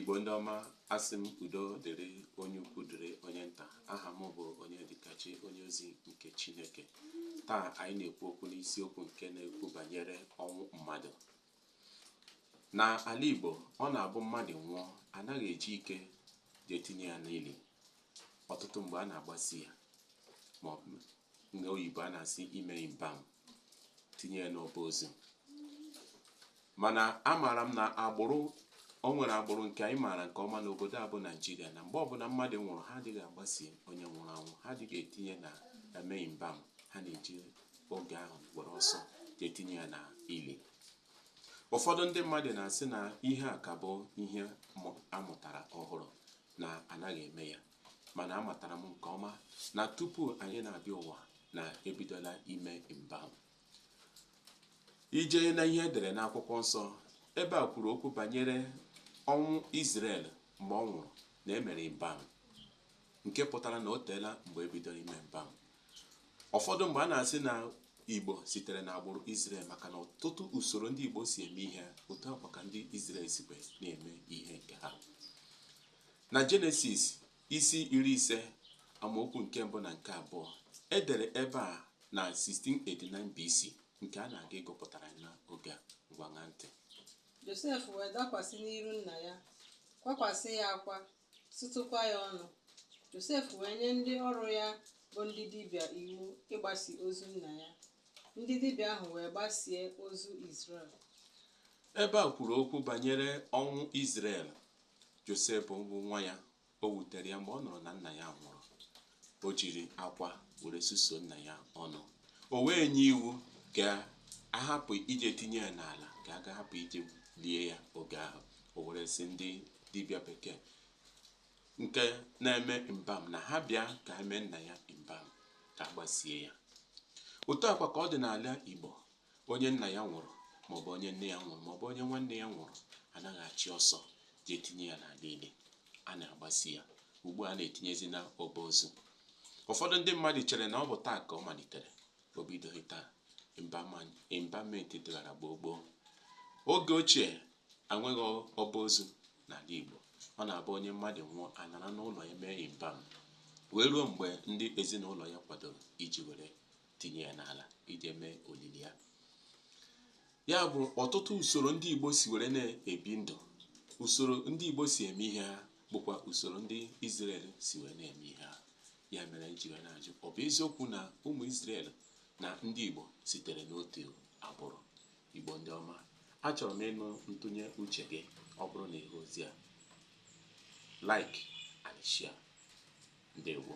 Igbo ndị ọma asị m udo dịrị onye ukwu dịrị onye nta aha m bụ Onyedịkachi onye ozi nke Chineke taa anyị na-ekwu okwu n'isiokwu nke na-ekwu banyere ọnwụ mmadụ na ala Igbo ọ na-abụ mmadụ nwụọ anaghị eji ike jee tinye ya n'ili ọtụtụ mgbe a na-agbasi ya ma ọ bụ n'oyibo a na-asị ime embalm tinye ya n'ọba ozi mana amaara m na agbụrụ o nwere agbụrụ nke anyị maara nke ọma n'obodo a bụ naijiria na mgbe ọbụla mmadụ nwụrụ ha adịghị agbasi onye nwụrụ anwụ ha adịghị etinye na eme embalm ha na-eji oge ahụ were ọsọ etinye ya na ili ụfọdụ ndị mmadụ na-asị na ihe a ka bụ ihe amụtara ọhụrụ na anaghị eme ya mana amatara m nke ọma na tupu anyị na-abịa ụwa na ebidola ime embalm i jee na ihe edere n'akwụkwọ nsọ ebe a kwuru okwu banyere ọnwụ Izrel mgbe ọ nwụrụ na emere embalm nke pụtara na o teela mgbe ebidoro ime embalm ụfọdụ mgbe a na-asị na igbo sitere na agbụrụ Izrel maka na ọtụtụ usoro ndị igbo si eme ihe otu a kwa ka ndị Izrel sikwe na-eme ihe nke ha Na Jenesis isi iri ise amaokwu nke mbụ na nke abụọ e dere ebe a na 1689 BC nke a na-aga ịgụpụtara anyị n'oge a ngwa ṅaa ntị Josef wee dakwasị n'iru nna ya, kwakwasị ya akwa, sụtụkwa ya ọnụ. Josef wee nye ndị ọrụ ya bụ ndị dibịa iwu ịgbasi ozu nna ya. Ndị dibịa ahụ wee gbasie ozu Izrel. ebe a kwuru okwu banyere ọnwụ Izrel Josef bụ nwa ya o wutere ya mgbe ọ nụrụ na nna ya nwụrụ o jiri akwa were suso nna ya ọnụ o wee nye iwu ka a hapụ ije tinye ya n'ala ka a ga-ahapụ ije lie ya oge ahụ o were sị ndị dibịa bekee nke na-eme embalm na ha bịa ka ha mee nna ya embalm ka a gbasie ya otu a kwa ka ọ dị n'ala igbo Onye nna ya nwụrụ maọbụ onye nne ya nwụrụ maọbụ onye nwanne ya nwụrụ anaghị achị ọsọ jee tinye ya n'ala ili. A na-agbasi ya. Ugbu a na-etinyezi na ọba ozu. Ụfọdụ ndị mmadụ chere na ọ bụ taa ka ọ malitere. O bidoghị taa. Embalmment dịghara gboo gboo. Oge ochie anweghị ọba ozu n'ala Igbo. Ọ na-abụ onye mmadụ nwụọ anọra n'ụlọ ya mee embalm wee ruo mgbe ndị ezinụlọ ya kwadoro iji were tinye ya n'ala ije mee olili ya ya bụ ọtụtụ usoro ndị Igbo si were na-ebi ndụ usoro ndị Igbo si eme ihe ha bụkwa usoro ndị Izrel si were na-eme ihe ha ya mere e ji wee na-ajụ ọ bụ eziokwu na ụmụ Izrel na ndị Igbo sitere n'otu agbụrụ Igbo ndị ọma achọrọ m ịnụ ntụnye uche gị ọ bụrụ na ị hụ ozi a like and share ndewo